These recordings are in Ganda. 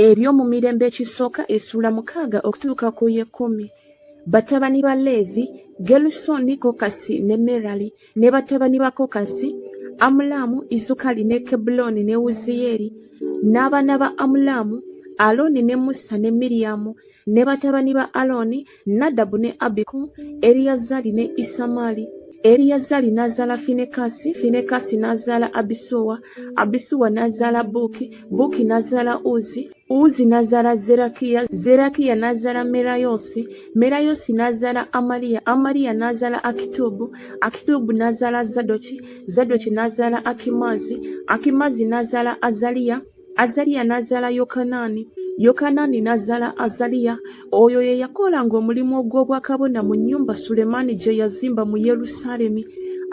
ebyo mu mirembe ekisooka essuula mukaaga okutuuka ku y'ekkumi batabani ba leevi gerusooni kokasi ne merali ne batabani ba kokasi amulaamu izukali ne kebulooni ne wuziyeeri n'abaana ba amulaamu alooni ne musa ne miriyamu ne batabani ba alooni Nadabu ne Abiku, Eriyazaali ne Isamaali. Eriyazaali n'azaala Finekaasi, Finekaasi n'azaala Abisuwa, Abisuwa n'azaala Buuki, Buuki n'azaala Uzi, Uzi n'azaala Zerakiya, Zerakiya n'azaala Merayoosi, Merayoosi n'azaala Amaliya, Amaliya n'azaala Akituubu, Akituubu n'azaala Zadoki, Zadoki n'azaala Akimaazi, Akimaazi n'azaala Azaliya, azaliya n'azaala yokanaani yokanaani n'azaala azaliya oyo ye yakolanga omulimu ogw'obwakabona mu nnyumba sulemaani gye yazimba mu yerusaalemi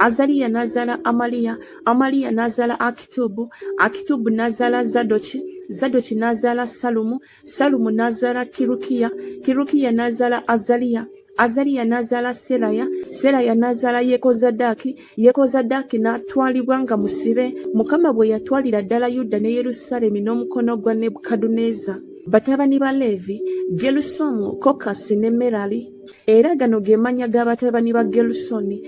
azaliya n'azaala amaliya amaliya n'azaala akitubu akitubu n'azaala zadoki zadoki n'azaala salumu salumu n'azaala kirukiya kirukiya n'azaala azaliya azaliya n'azaala seraya seraya n'azaala yekozadaaki yekozadaaki n'atwalibwa nga musibe mukama bwe yatwalira ddala yuda ne yerusaalemi n'omukono gwa nebukaduneza batabani ba leevi gerusomu kokasi ne merali era gano ge mannya ga batabani ba gerusoni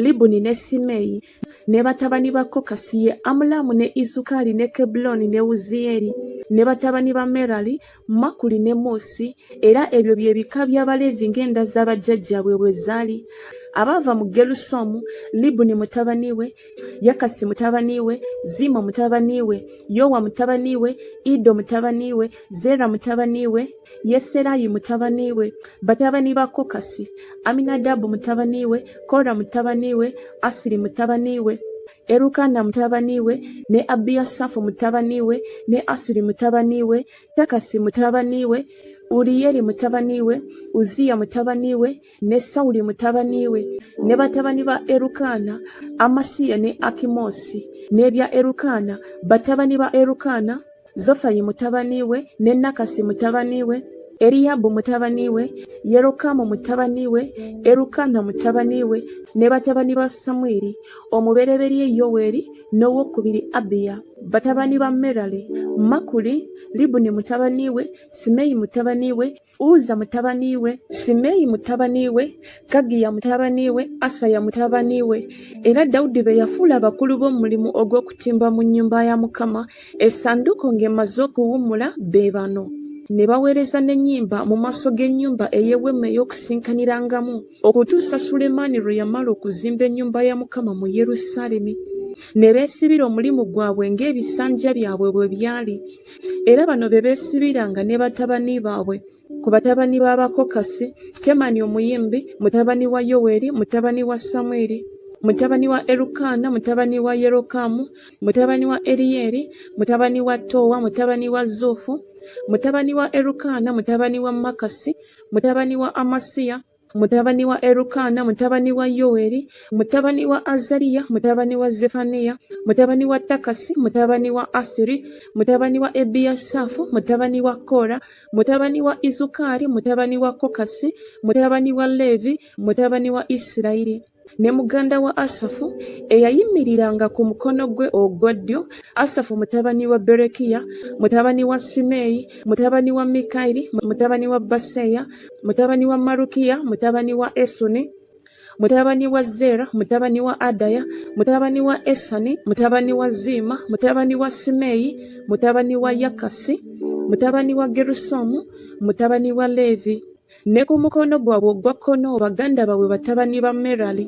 libuni ne simeeyi ne batabani ba kokasi ye amulaamu ne isukaali ne kebuloni ne wuziyeri ne batabani ba merali makuli ne muusi era ebyo bye bika by'abaleevi ng'enda za bajjajjaabwe bwe zaali abaava mu gerusomu libuni mutabani we yakasi mutabani we ziima mutabani we yowa mutabani we ido mutabani we zeera mutabani we Yeserayi mutabani we, batabani ba Kokasi, Aminadabu mutabani we, Kora mutabani we, Asiri mutabani we, Erukana mutabani we, ne Abiyasafu mutabani we, ne Asiri mutabani we, Takasi mutabani we, Uriyeli mutabani we, Uziya mutabani we, ne sawuli mutabani we ne batabani ba erukaana amasiya ne akimoosi n'ebya erukaana batabani ba erukaana zofayi mutabani we ne nakasi mutabani we Eliyabu mutabani we, Yerokamu mutabani we, Erukana mutabani we, ne batabani ba Samwiri, omubereberye Yoweri, n'owokubiri Abiya. Batabani ba Merali, Makuli, Libuni mutabani we, Simeyi mutabani we, Uza mutabani we, Simeyi mutabani we, Kagiya mutabani we, Asaya mutabani we, era Dawudi be yafuula abakulu b'omulimu ogw'okutimba mu nnyumba ya Mukama, essanduuko ng'emaze okuwummula be bano. ne baweereza n'ennyimba mu maaso g'ennyumba ey'eweema ey'okusinkanirangamu okutuusa sulemaani lwe yamala okuzimba ennyumba ya mukama mu yerusaalemi ne beesibira omulimu gwabwe ng'ebisanja byabwe bwe byali era bano be beesibiranga ne batabani baabwe ku batabani b'abakokasi kemani omuyimbi mutabani wa yoweri mutabani wa samwiri mutabani wa erukaana mutabani wa yerokamu mutabani wa eriyeri mutabani wa toowa mutabani wa zuufu mutabani wa erukaana mutabani wa makasi mutabani wa amasiya mutabani wa Erukaana, mutabani wa Yoweri, mutabani wa Azariya, mutabani wa Zefaniya, mutabani wa Takasi, mutabani wa Asiri, mutabani wa Ebiyasafu, mutabani wa Kora, mutabani wa Izukari, mutabani wa Kokasi, mutabani wa Levi, mutabani wa Isirayiri. ne muganda wa Asafu eyayimiriranga ku mukono gwe ogwa ddyo, Asafu mutabani wa Berekiya, mutabani wa Simeeyi, mutabani wa Mikayiri, mutabani wa Baseya, mutabani wa Marukiya, mutabani wa Esuni, mutabani wa Zera, mutabani wa Adaya, mutabani wa Esani, mutabani wa Ziima, mutabani wa Simeeyi, mutabani wa Yakasi, mutabani wa Gerusomu, mutabani wa Leevi. Ne ku mukono gwabwe ogwa kkono baganda baabwe batabani ba Merali,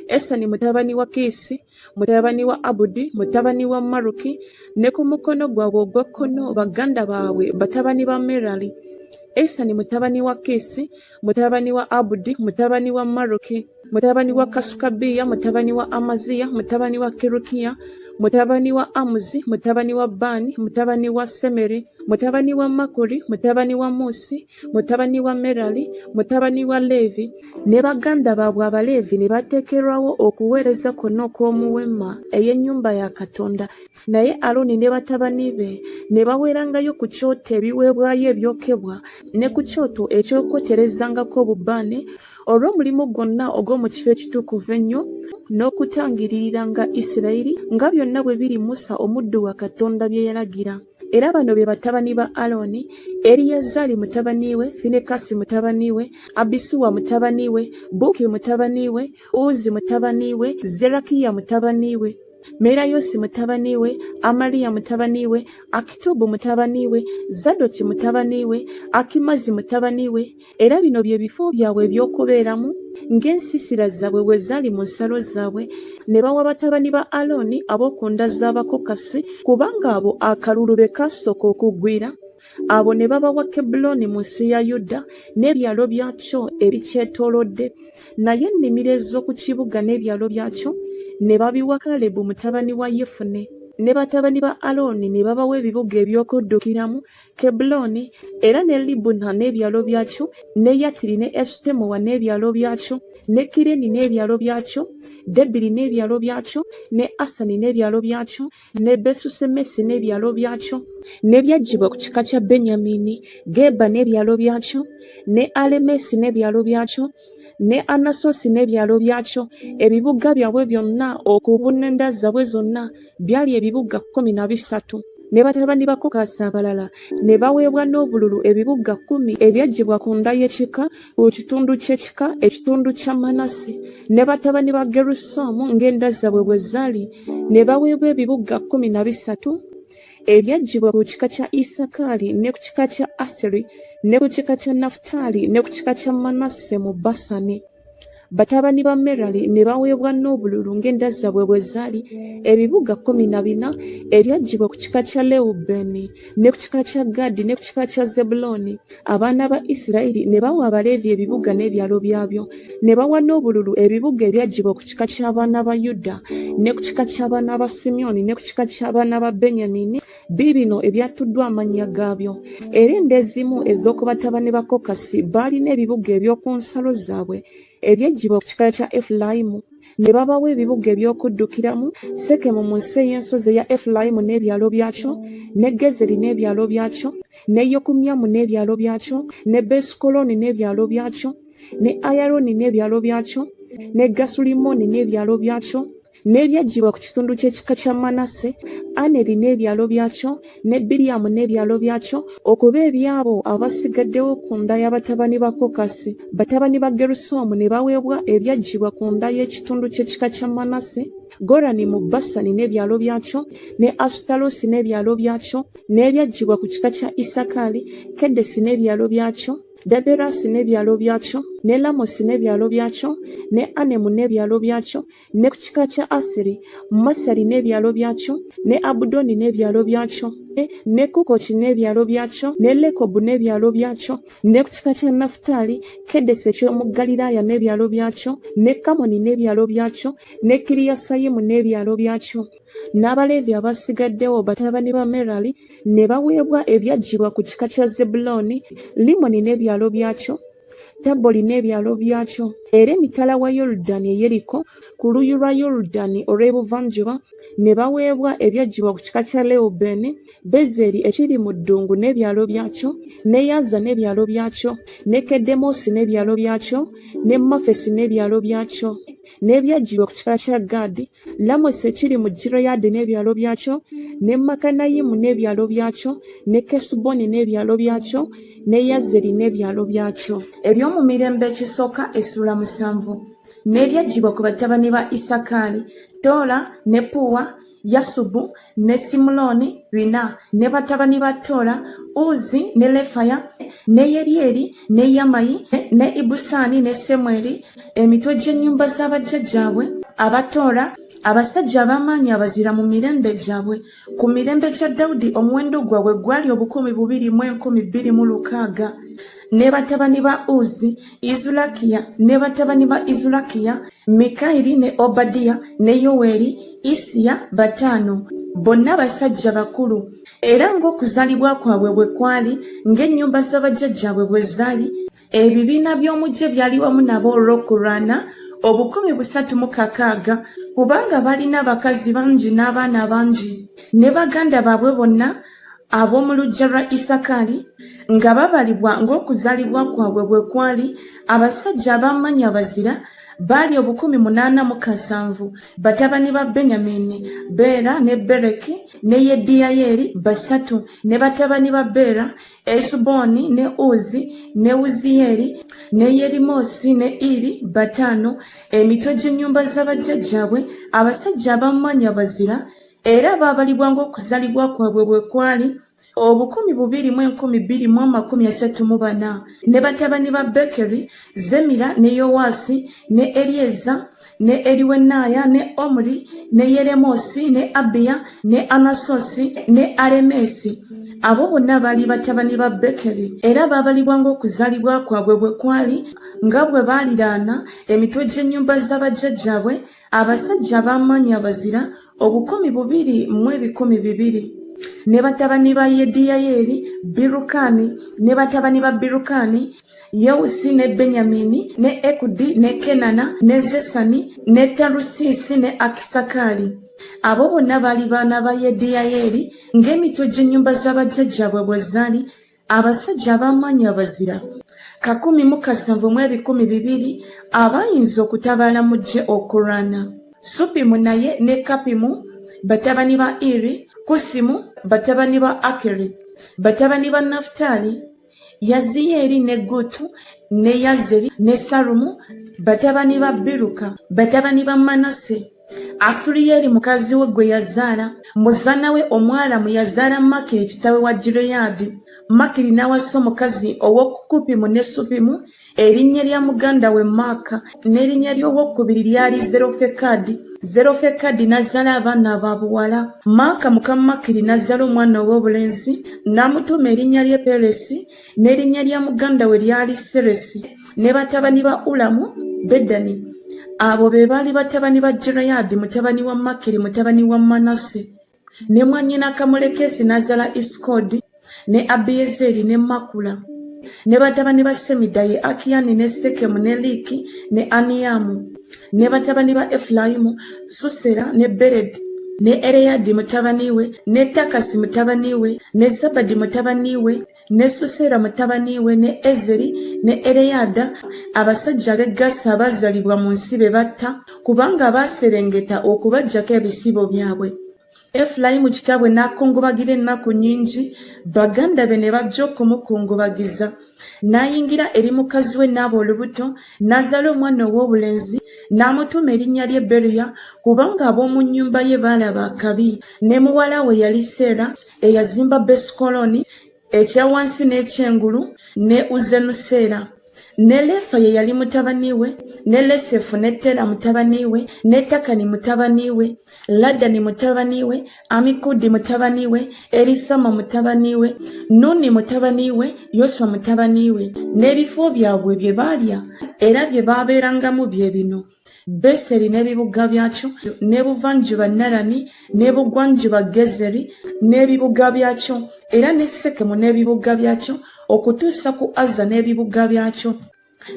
Esani mutabani wa Kiisi, mutabani wa Abudi, mutabani wa Maruki, ne ku mukono gwabwe ogwa kkono baganda baabwe batabani ba Merali, Esani mutabani wa Kiisi, mutabani wa Abudi, mutabani wa Maruki, mutabani wa Kasukabiya, mutabani wa Amaziya, mutabani wa Kirukiya, mutabani wa Amuzi, mutabani wa Bani, mutabani wa Semeri, mutabani wa Makuri, mutabani wa Musi, mutabani wa Merali, mutabani wa Leevi, ne baganda baabwe Abaleevi ne bateekerwawo okuweereza kwonna okw'omu weema ey'ennyumba ya Katonda, naye Alooni ne batabani be ne baweerangayo ku kyoto ebiweebwayo ebyokebwa ne ku kyoto eky'okwoterezangako obubaane olw'omulimu gwonna ogw'omu kifo ekitukuvu ennyo n'okutangiririranga Isirayiri nga byonna bwe biri Musa omuddu wa Katonda bye yalagira. era bano be batabani ba Alooni, Eliyazari mutabani we, Finekasi mutabani we, Abisuwa mutabani we, Buki mutabani we, Uzi mutabani we, Zerakiya mutabani we. Merayosi mutabani we, Amaliya mutabani we, Akitubu mutabani we, Zadoki mutabani we, Akimazi mutabani we, era bino bye bifo byabwe eby'okubeeramu ng'ensiisira zaabwe bwe zaali mu nsalo zaabwe ne bawa batabani ba alooni ab'okunda z'abakokasi kubanga abo akalulu be kaasooka okugwira abo ne babawa kebulooni mu nsi ya yuda n'ebyalo byakyo ebikyetoolodde naye ennimiro ez'oku kibuga n'ebyalo byakyo ne babiwa kalebu mutabani wa yefune ne batabani ba alooni ne babawa ebibuga eby'okuddukiramu Kebbulooni era ne Libuna n'ebyalo byakyo, ne Yatiri ne Esutemoa n'ebyalo byakyo, ne Kireni n'ebyalo byakyo, Debiri n'ebyalo byakyo, ne Asani n'ebyalo byakyo, ne Besusemesi n'ebyalo byakyo. N'ebyaggibwa ku kika kya Benyamini, Geba n'ebyalo byakyo, ne Alemesi n'ebyalo byakyo, ne anasosi n'ebyalo byakyo ebibuga byabwe byonna okubuna enda zabwe zonna byali ebibuga kkumi na bisatu ne batabani ba kokasi abalala ne baweebwa n'obululu ebibuga kkumi ebyaggyibwa ku nda y'ekika ku kitundu ky'ekika ekitundu kya manase ne batabani ba gerusomu ng'enda zabwe bwe zaali ne baweebwa ebibuga kkumi na bisatu ebyaggyibwa ku kika kya isakaali ne ku kika kya aseri ne ku kika kya nafutaali ne ku kika kya manasse mu basani batabani ba merali ne baweebwa n'obululu ng'enda zaabwe bwe zaali ebibuga kkumi na bina ebyaggyibwa ku kika kya lewubeeni ne ku kika kya gaadi ne ku kika kya zebulooni abaana ba isirayiri ne bawa abaleevi ebibuga n'ebyalo byabyo ne bawa n'obululu ebibuga ebyaggyibwa ku kika ky'abaana ba yuda ne ku kika ky'abaana ba simyoni ne ku kika ky'abaana ba benyamini biibino ebyattuddwa amannya gaabyo era enda ezimu ez'oku batabani ba kokasi baalina ebibuga eby'oku nsalo zaabwe eby'eggyibwa ku kika kya efulayimu ne babawa ebibuga eby'okuddukiramu sekemu mu nsi ey'ensozi eya efulayimu n'ebyalo byakyo ne gezeri n'ebyalo byakyo ne yokumyamu n'ebyalo byakyo ne besukoloni n'ebyalo byakyo ne ayaroni n'ebyalo byakyo ne gasulimoni n'ebyalo byakyo n'ebyaggibwa ku kitundu ky'ekika kya manase aneri n'ebyalo byakyo ne biriyamu n'ebyalo byakyo okuba ebyabo abasigaddewo ku nda y'abatabani ba kokasi batabani ba gerusoomu ne baweebwa ebyaggibwa ku nda y'ekitundu ky'ekika kya manase gorani mu basani n'ebyalo byakyo ne asutarosi n'ebyalo byakyo n'ebyaggibwa ku kika kya isakaali kedesi n'ebyalo byakyo daberasi n'ebyalo byakyo ne lamosi n'ebyalo byakyo ne anemu n'ebyalo byakyo ne ku kika kya Asiri, Masali n'ebyalo byakyo, ne Abudoni n'ebyalo byakyo, eh, ne Kukoki n'ebyalo byakyo, ne Lekobu n'ebyalo byakyo, ne ku kika kya Nafutaali, Kedesi eky'omu Galilaaya n'ebyalo byakyo, ne Kamoni n'ebyalo byakyo, ne Kiriyasayimu n'ebyalo byakyo. N'Abaleevi abasigaddewo batabani ba Merali ne baweebwa ebyaggyibwa ku kika kya Zebbulooni, Limoni n'ebyalo byakyo, Tabbo olina ebyalo byakyo, era emitala wa Yorudani eyeriko ku luuyi lwa Yorudani olw'ebuvanjuba ne baweebwa ebyaggyibwa ku kika kya Lewubeeni, Bezeri ekiri mu ddungu n'ebyalo byakyo, ne Yaza n'ebyalo byakyo, ne Kedemoosi n'ebyalo byakyo, ne Mafesi n'ebyalo byakyo, n'ebyaggyibwa ku kika kya Gaadi Lamosi ekiri mu Gireyaadi n'ebyalo byakyo, ne Makanayimu n'ebyalo byakyo, ne Kesuboni n'ebyalo byakyo, ne Yazeri n'ebyalo byakyo. Eby'omu mirembe ekisooka essula musanvu. N'ebyaggyibwa ku batabani ba Isakaali, Toola ne Puwa, Yasubu ne Simulooni bina, ne batabani ba Tola, Uzi ne Lefaya, ne Yeryeri, ne Yamayi, ne Ibusaani ne Semweri, emitwe gy'ennyumba za bajjajjaabwe aba Tola, abasajja ab'amaanyi abazira mu mirembe gyabwe. Ku mirembe gya Dawudi omuwendo gwabwe gwali obukumi bubiri mu enkumi bbiri mu lukaaga. ne batabani ba uzi izulakiya ne batabani ba izulakiya mikayiri ne obadiya ne yoweri isiya bataano bonna basajja bakulu era ng'okuzaalibwa kwabwe bwe kwali ng'ennyumba z'abajjajjaabwe bwe zaali ebibiina by'omu gye byali wamu nabo olw'okulwana obukumi busatu mu kakaaga kubanga balina abakazi bangi n'abaana bangi ne baganda baabwe bonna Ab'omu luggya lwa Isakaali nga babalibwa ng'okuzaalibwa kwabwe bwe kwali, abasajja ab'amaanyi abazira baali obukumi munaana mu kasanvu. Batabani ba Benyamiini, Beera ne Bereki ne Yediyayeeri basatu, ne batabani ba Beera, Esubooni ne Uzi ne Wuziyeeri ne Yerimoosi ne Iri bataano, emitwe gy'ennyumba za bajjajjaabwe, abasajja ab'amaanyi abazira. era baabalibwa ng'okuzalibwa kwabwe bwe kwali obukumi bubiri mu enkumi bbiri mu amakumi asatu mu bana ne batabani ba bekeri zemira ne yowaasi ne eryeza ne eriwenaaya ne omuri ne yeremoosi ne abiya ne anasosi ne aremeesi abo bonna baali batabani ba bekeri era baabalibwa ng'okuzalibwa kwabwe bwe kwali nga bwe baaliraana emitwe gy'ennyumba z'abajjajjabwe abasajja ab'amaanyi abazira obukumi bubiri mu ebikumi bibiri ne batabani ba yediyayeeri birukaani ne batabani ba birukaani yewusi ne benyamini ne ekudi ne kenana ne zesani ne tarusiisi ne akisakaali abo bonna baali baana ba yediyayeeri ng'emitwe gy'ennyumba z'abajjajjaabwe bwe zaali abasajja ab'amaanyi abazira kakumi mu kasanvu mu ebikumi bibiri abayinza okutabaala mu ggye okulwana supimu naye ne kapimu batabani ba iri kusimu batabani ba akeri batabani ba nafutaali yaziyeeri ne gutu ne yazeri ne salumu batabani ba biruka batabani ba manase Asuliyeli mukazi we gwe yazaala, muzana we Omwalamu yazaala Makiri kitawe wa Gireyaadi. Makiri n'awasa omukazi ow'okukupimu ne Supimu, erinnya lya muganda we Maaka, n'erinnya ly'owokubiri lyali Zerofekadi. Zerofekadi n'azaala abaana ba buwala. Maaka muka Makiri n'azaala omwana ow'obulenzi, n'amutuuma erinnya lye Peresi, n'erinnya lya muganda we lyali Seresi. ne batabani ba ulamu bedani abo be baali batabani ba jirayadi mutabani wa makiri mutabani wa manase ne mwanyina kamulekesi n'azaala isikodi ne abiyezeri ne makula ne batabani ba semida ye akiyani ne sekemu ne liiki ne aniyamu ne batabani ba efulayimu susera ne beredi ne ereyadi mutabani we ne takasi mutabani we ne zabadi mutabani we ne susera mutabani we ne ezeri ne ereyada abasajja ab'e gasa abaazalibwa mu nsi be batta kubanga baaserengeta okubajjako ebisibo byabwe efulayimu kitaabwe n'akungubagira ennaku nnyingi baganda be ne bajja okumukungubagiza n'ayingira eri mukazi we n'aba olubuto n'azaala omwana ow'obulenzi n'amutuuma erinnya lye beruya kubanga ab'omu nnyumba ye baalaba akabi ne muwala we yali seera eyazimba besikoloni ekya wansi n'ekyengulu ne uzenuseera ne lefa ye yali mutabani we ne lesefu ne tera mutabani we ne takani mutabani we ladani mutabani we amikudi mutabani we erisama mutabani we nuni mutabani we yoswa mutabani we n'ebifo byabwe bye baalya era bye baabeerangamu bye bino beseri n'ebibuga byakyo n'ebuvanjuba narani n'ebugwanjuba gezeri n'ebibuga byakyo era ne sekemu n'ebibuga byakyo okutuusa ku azza n'ebibuga byakyo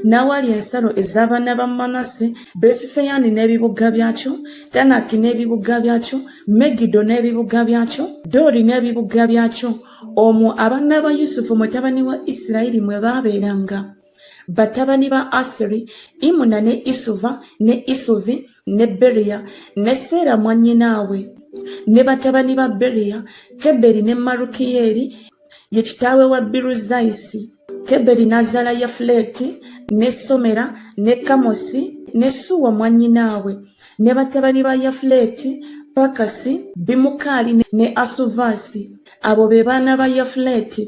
n'awali ensalo ez'abaana ba manase besuseyani n'ebibuga byakyo tanaki n'ebibuga byakyo megido n'ebibuga byakyo doori n'ebibuga byakyo omwo abaana ba yusufu mutabani wa isirayiri mwe baabeeranga batabani ba asiri imuna ne isuva ne isuvi ne beriya ne seera mwannyinaabwe ne batabani ba beriya keberi ne marukiyeeri ye kitaawe wa biruzayisi keberi n'azaala yafuleeti ne somera ne kamosi ne suwa mwannyinaabwe ne batabani ba yafuleeti pakasi bimukaali ne asuvaasi abo be baana ba yafuleeti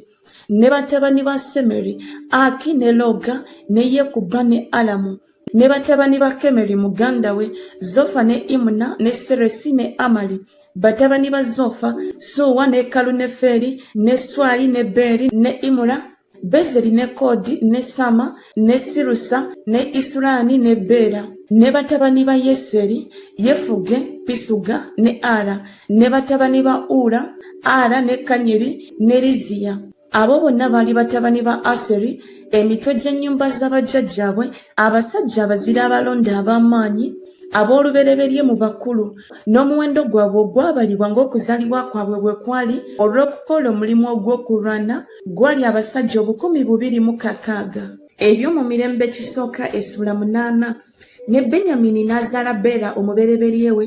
ne batabani ba semeri aki ne loga ne yekuba ne alamu ne batabani ba kemeri muganda we zofa ne imuna ne seresi ne amali batabani ba zofa suwa ne kaluneferi ne swali ne beri ne imura bezeri ne kodi ne sama ne sirusa ne isurani ne bera ne batabani ba yeseri yefuge pisuga ne ara ne batabani ba ula ara ne kanyeri ne liziya abo bonna baali batabani ba aseri emitwe gy'ennyumba z'abajjajjaabwe abasajja abazira abalonda ab'amaanyi ab'olubereberye mu bakulu n'omuwendo gwabwe ogwabalibwa ng'okuzalibwa kwabwe bwe kwali olw'okukola omulimu ogw'okulwana gwali abasajja obukumi bubiri mu kakaaga ebyo mu mirembe kisooka esula munaana ne benyamini n'azaala beera omubereberye we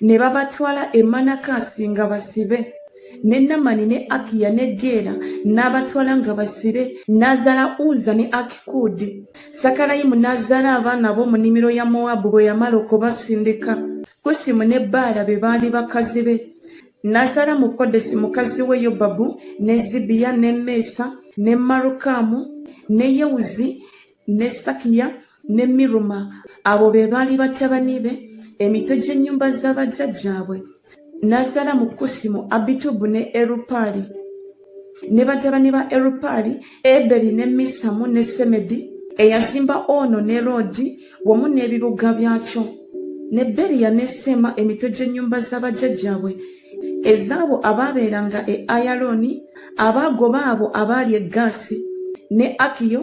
ne babatwala e manakasi nga basibe ne namani ne akiya ne geera n'abatwala nga basibe n'azaala uza ne akikuudi sakalayimu n'azaala abaana ab'omu nimiro ya mowabu bwe yamala okubasindika kusimu ne baala be baali bakazi be n'azaala mu kodesi mukazi we yobabu ne zibiya ne meesa ne marukaamu ne yewuzi ne sakiya ne miruma abo be baali batabani be emitwe gy'ennyumba za bajjajjaabwe n'azaala mu kusi mu abitubu ne erupaali ne batabani ba erupaali eberi ne misamu ne semedi eyazimba ono ne roodi wamu n'ebibuga byakyo ne beriya ne seema emitwe gy'ennyumba za bajjajjaabwe ezaabo abaabeeranga e ayalooni abaagoba abo abaali e gaasi ne akiyo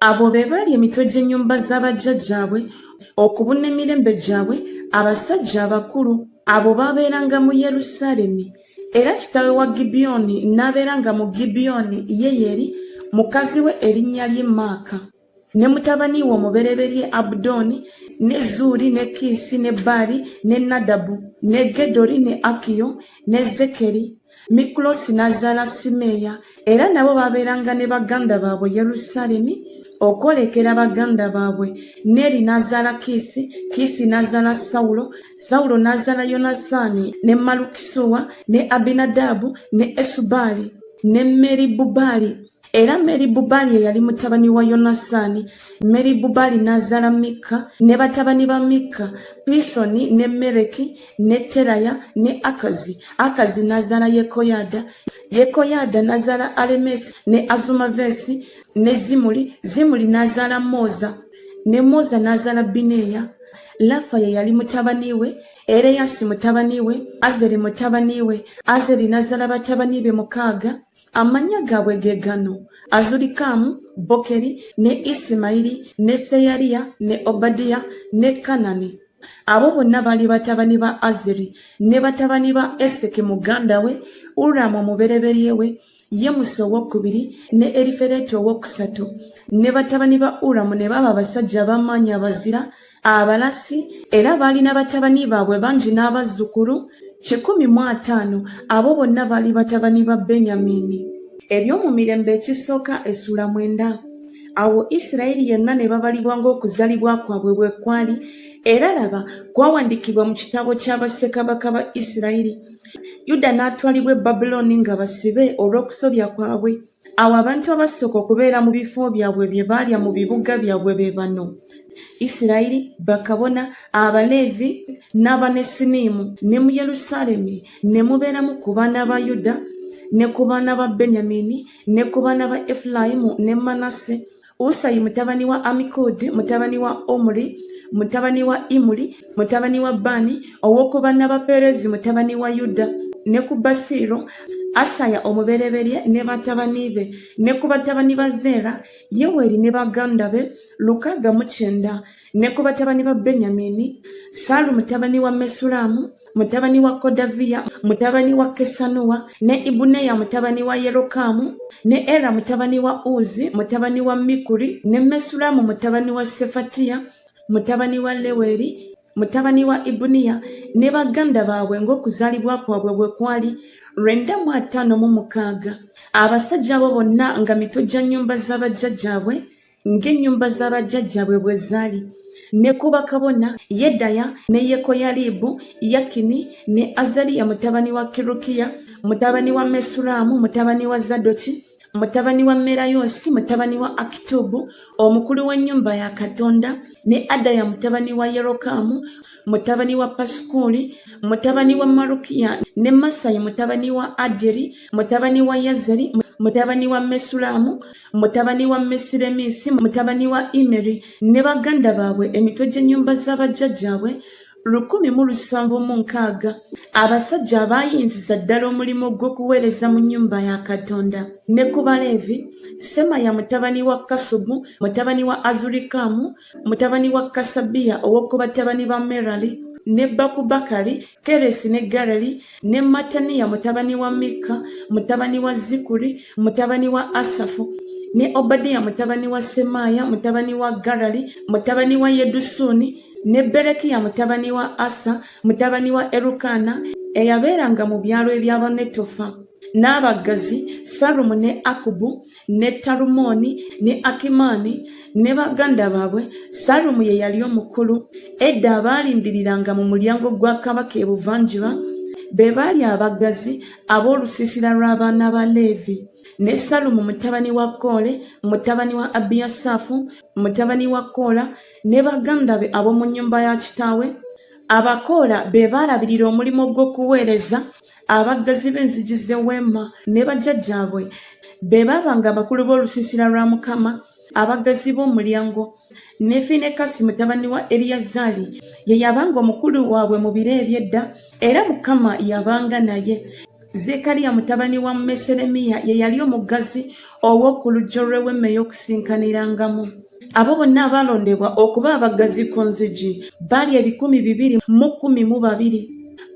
Abo be baali emitwe gy'ennyumba za bajjajjaabwe, okubuna emirembe gyabwe, abasajja abakulu. Abo baabeeranga mu Yerusaalemi. Era kitaawe wa Gibiyoni n'abeeranga mu Gibiyoni, Yeyeri, mukazi we erinnya lye Maaka, ne mutabani we omubereberye Abudoni, ne Zuuri, ne Kiisi, ne Baali, ne Nadabu, ne Gedori, ne Akiyo, ne Zekeri. Mikuloosi n'azaala Simeeya, era nabo baabeeranga ne baganda baabwe Yerusaalemi okwolekera baganda baabwe. Neeri n'azaala Kiisi, Kiisi n'azaala Sawulo, Sawulo n'azaala Yonasaani, ne Malukisuwa, ne Abinadaabu, ne Esubaali, ne Meribubaali. era meri bubaali eyali mutabani wa yonasaani meri bubaali n'azaala mikka ne batabani ba mikka pisoni ne mereki ne teraya ne akazi akazi n'azaala yekoyaada yekoyaada n'azaala alemesi ne azumaveesi ne zimuli zimuli n'azaala mooza ne mooza n'azaala bineeya lafa ye yali mutabani we ereyasi mutabani we azeri mutabani we azeri n'azaala batabani be mukaaga Amannya gaabwe ge gano, Azurikaamu, Bokeri, ne Isimayiri, ne Seyariya, ne Obadiya, ne Kanani. Abo bonna baali batabani ba Azeri, ne batabani ba Eseki muganda we, Uramu omubereberye we, Yemusi owokubiri, ne Erifereti owokusatu. Ne batabani ba Uramu ne baba abasajja ab'amaanyi abazira, Abalasi era baalina batabani baabwe bangi n'abazzukulu kikumi mu ataano, abo bonna baali batabani ba Benyamiini. Ebyomumirembe Ekisooka Essula mwenda Awo Isirayiri yenna ne babalibwa ng'okuzalibwa kwabwe bwe kwali, era laba, kwawandiikibwa mu kitabo kya bassekabaka ba Isirayiri. Yuda n'atwalibwa e Babulooni nga basibe olw'okusobya kwabwe. Awo abantu abasooka okubeera mu bifo byabwe bye baalya mu bibuga byabwe be bano, Isirayiri, bakabona, Abaleevi, n'Abanesiniimu, ne mu Yerusaalemi ne mubeeramu ku baana ba Yuda ne ku baana ba Benyamini ne ku baana ba Efulayimu ne Manase, usayi mutabani wa amikodi mutabani wa omuri mutabani wa imuri mutabani wa bani ow'okubana ba perezi mutabani wa yuda ne ku basiiro asaya omubereberye ne batabani be ne ku batabani ba zeera yeweri ne baganda be lukaaga mu kyenda ne ku batabani ba benyamini saalu mutabani wa mesulaamu mutabani wa kodaviya mutabani wa kesanuwa ne ibuneya mutabani wa yerokaamu ne era mutabani wa uzi mutabani wa mikuri ne mesulaamu mutabani wa sefatiya mutabani wa leweri mutabani wa ibuniya ne baganda baabwe ng'okuzaalibwa kwabwe bwe kwali lwenda mu ataano mu mukaaga abasajja abo bonna nga mitwe gya nnyumba z'abajjajjaabwe ng'ennyumba za bajjajjaabwe bwe zaali ne ku bakabona yedaya ne yekoyalibu yakini ne azaliya mutabani wa kirukiya mutabani wa mesulaamu mutabani wa zadoki mutabani wa merayoosi mutabani wa akitubu omukulu w'ennyumba ya katonda ne adaya mutabani wa yerokaamu mutabani wa pasikuuli mutabani wa marukiya ne masayi mutabani wa aderi mutabani wa yazeri mutabani wa mesulaamu mutabani wa Mesireminsi, mutabani wa Imeri, ne baganda baabwe emitwe gy'ennyumba za bajjajjaabwe lukumi mu lusanvu mu nkaaga abasajja abaayinziza ddala omulimu gw'okuweereza mu nnyumba ya katonda ne ku baleevi semaya mutabani wa kasubu mutabani wa azurikamu mutabani wa kasabiya ow'oku batabani ba merali ne bakubakari Keresi ne Garali ne Mataniya mutabani wa Mikka mutabani wa Zikuri mutabani wa Asafu ne Obadiya mutabani wa Semaaya mutabani wa Garali mutabani wa Yedusuni ne Berekiya mutabani wa Asa mutabani wa Erukana eyabeeranga mu byalo eby'Abanetofa n'abaggazi Salumu ne Akubu ne Talumoni ne Akimani ne baganda baabwe, Salumu ye yali omukulu. Edda abaalindiriranga mu mulyango gwa kabaka ebuvanjuba be baali abaggazi ab'olusiisira lw'abaana ba Leevi. Ne Salumu mutabani wa Koole, mutabani wa Abiyasaafu, mutabani wa Koola, ne baganda be ab'omu nnyumba ya kitaawe. Abakoola be baalabirira omulimu gw'okuweereza abaggazi b'enzigi z'eweema ne bajjajjaabwe be baabanga abakulu b'olusiisira lwa mukama abaggazi b'omulyango ne finekasi mutabani wa eliyazaali ye yabanga omukulu waabwe mu biro eby'edda era mukama yabanga naye zekariya mutabani wa meseremiya ye yali omuggazi ow'oku lujjo lw'eweema ey'okusinkanirangamu abo bonna abaalondebwa okuba abaggazi ku nzigi baali ebikumi bibiri mu kkumi mu babiri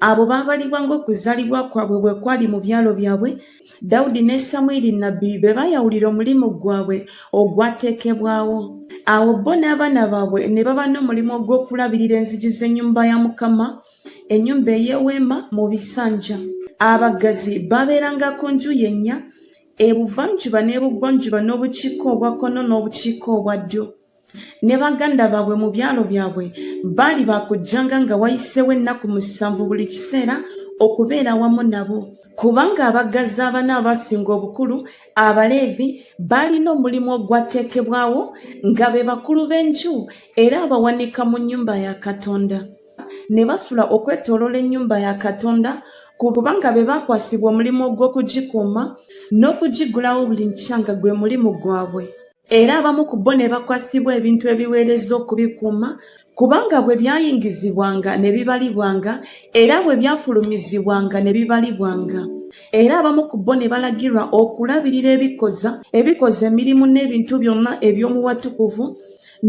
abo baabalibwa ng'okuzaalibwa kwabwe bwe kwali mu byalo byabwe dawudi ne samwiri nnabbi be baayawulira omulimu gwabwe ogwateekebwawo awo bo n'abaana baabwe ne baba n'omulimu ogw'okulabirira enzigi z'ennyumba ya mukama ennyumba ey'eweema mu bisanja abaggazi baabeeranga ku nju yennya ebuvanjuba n'ebugwanjuba n'obukiika obwa kkono n'obukiika obwa ddyo ne baganda baabwe mu byalo byabwe baali baakujjanga nga wayiseewo ennaku musanvu buli kiseera okubeera wamu nabo kubanga abaggazi abana abaasinga obukulu abaleevi baalina omulimu ogwateekebwawo nga be bakulu b'enju era abawanika mu nnyumba ya katonda ne basula okwetoolola ennyumba ya katonda kubanga be baakwasibwa omulimu ogw'okugikuuma n'okugiggulawo buli nkya nga gwe mulimu gwabwe era abamu ku bo ne bakwasibwa ebintu ebiweereza okubikuuma kubanga bwe byayingizibwanga ne bibalibwanga era bwe byafulumizibwanga ne bibalibwanga era abamu ku bo ne balagirwa okulabirira ebikoza ebikoza emirimu n'ebintu byonna eby'omuwatukuvu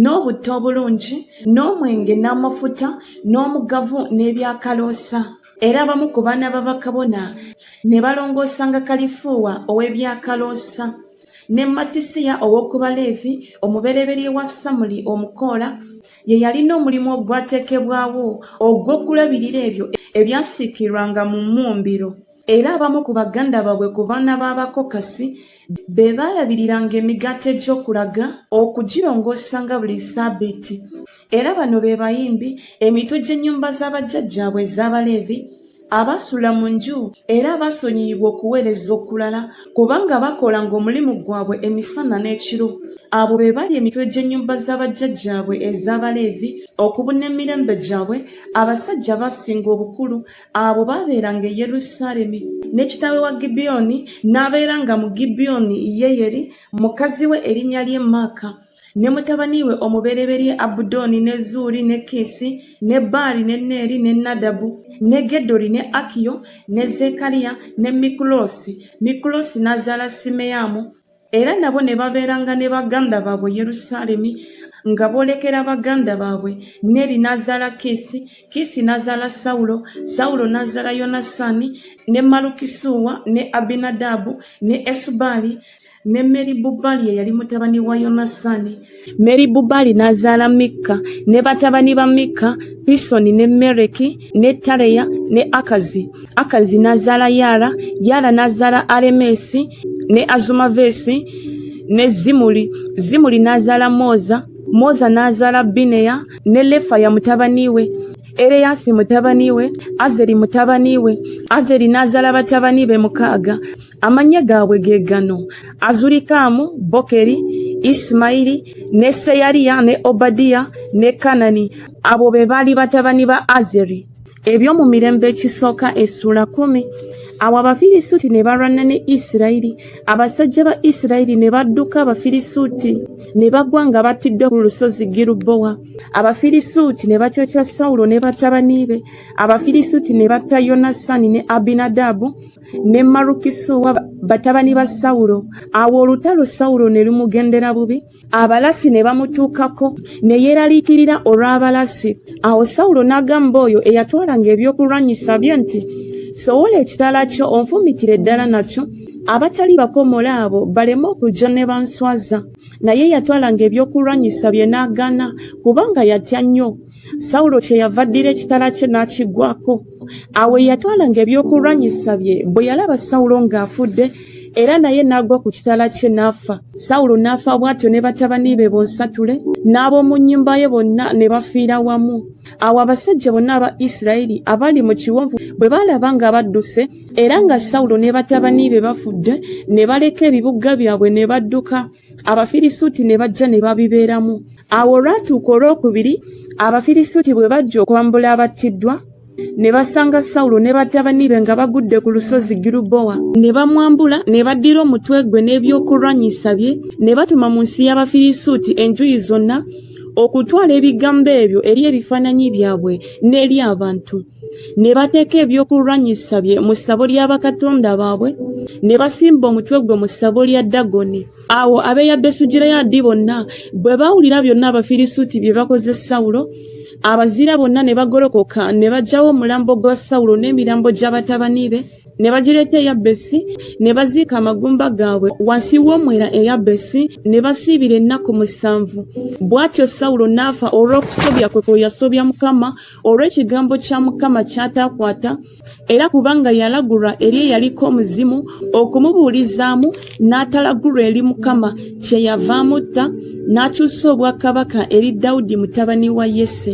n'obutta obulungi n'omwenge n'amafuta n'omugavu n'ebyakaloosa era abamu ku baana babakabona ne balongoosanga kalifuuwa ow'ebyakaloosa ne matisiya ow'oku baleevi omubereberye wa samuli omukoola ye yalina omulimu ogwateekebwawo ogw'okulabirira ebyo ebyasiikirwanga mu mmumbiro era abamu ku baganda baabwe ku baana b'abakokasi be baalabiriranga emigaati egy'okulaga okugirongoosa nga buli ssaabiiti era bano be bayimbi emitwe gy'ennyumba z'abajjajjaabwe ez'abaleevi abasula mu nju era abasonyiyibwa okuweereza okulala kubanga bakolanga omulimu gwabwe emisana n'ekiro abo be bali emitwe gy'ennyumba z'abajjajjaabwe ez'abaleevi okubuna emirembe gyabwe abasajja abasinga obukulu abo baabeeranga e yerusaalemi ne kitaawe wa gibiyoni n'abeeranga mu gibiyoni yeyeri mukazi we erinnya lye maaka ne mutabani we omubereberye abudooni ne zuuli ne kiisi ne baali ne neeri ne nadabu ne gedori ne akiyo ne zekariya ne mikuloosi mikuloosi n'azaala simeyaamu era nabo ne babeeranga ne baganda baabwe yerusaalemi nga boolekera baganda baabwe neri n'azaala kiisi kiisi n'azaala sawulo sawulo n'azaala yonasaani ne malukisuuwa ne abinadaabu ne esubaali ne meribubaali eyali mutabani wa yonasaani Meribubaali n'azaala Mikka ne batabani ba Mikka, Pisoni ne Mereki ne Tareya ne Akazi. Akazi n'azaala Yaala, Yaala n'azaala Alemeesi ne Azumaveesi ne Zimuli. Zimuli n'azaala Moza, Moza n'azaala Bineya ne Lefaya mutabani we. Ereyasi mutabani we, Azeri mutabani we, Azeri n'azaala batabani be mukaaga. amannya gaabwe ge gano azulikaamu bokeri isimayiri ne seyariya ne obadiya ne kanani abo be baali batabani ba azeri ebyo mu mirembe ekisooka essuula kumi awo abafirisuuti ne balwana ne isirayiri abasajja ba isirayiri ne badduka abafirisuuti ne bagwa nga battiddwa ku lusozi girubowa abafirisuuti ne bakyokya sawulo ne batabani be abafirisuuti ne batta yonasani ne abinadaabu ne Malukisu wa batabani ba Sawulo. Awo olutalo Sawulo ne lumugendera bubi, abalasi ne bamutuukako, ne yeeraliikirira olw'abalasi. Awo Sawulo n'agamba oyo eyatwalanga ebyokulwanyisa bye nti, Sowola ekitala kyo onfumitire ddala nakyo, abatali bakomola abo baleme okujja ne banswaza. Naye yatwalanga ebyokulwanyisa bye n'agaana, kubanga yatya nnyo. sawulo kyeyava addira ekitala kye n'akiggwako awo eyatwalanga ebyokulwanyisa bye bwe yalaba sawulo ng'afudde era naye n'agwa ku kitala kye n'afa sawulo n'afa bw'atyo ne batabani be bonsatule n'ab'omu nnyumba ye bonna ne bafiira wamu awo abasajja bonna aba isirayiri abali mu kiwonvu bwe baalaba nga badduse era nga sawulo ne batabani be bafudde ne baleka ebibuga byabwe ne badduka abafirisuuti ne bajja ne babibeeramu awo olwatuuka olwokubiri abafirisuuti bwe bajja okwambula abattiddwa ne basanga sawulo ne batabani be nga bagudde ku lusozi girubowa ne bamwambula ne baddira omutwe gwe n'ebyokulwanyisa bye ne batuma mu nsi y'abafirisuuti enjuyi zonna okutwala ebigambo ebyo eri ebifaananyi byabwe n'eri abantu ne bateeka ebyokulwanyisa bye mu ssabo lya bakatonda baabwe ne basimba omutwe gwe mu ssabo lya dagoni awo abeeya besugireyaadi bonna bwe bawulira byonna abafirisuuti bye bakoze sawulo abazira bonna ne bagolokoka ne bajjawo omulambo gwa sawulo n'emirambo gya batabani be ne bagireeta eya besi ne baziika amagumba gaabwe wansi w'omwera eya besi ne basiibira ennaku musanvu bw'atyo sawulo n'afa olw'okusobya kwe kwe yasobya mukama olw'ekigambo kya mukama kyataakwata era kubanga yalagulwa eri eyaliko omuzimu okumubuulizaamu n'atalagulwa eri mukama kye yavaamutta n'akyusa obwakabaka eri dawudi mutabani wa yese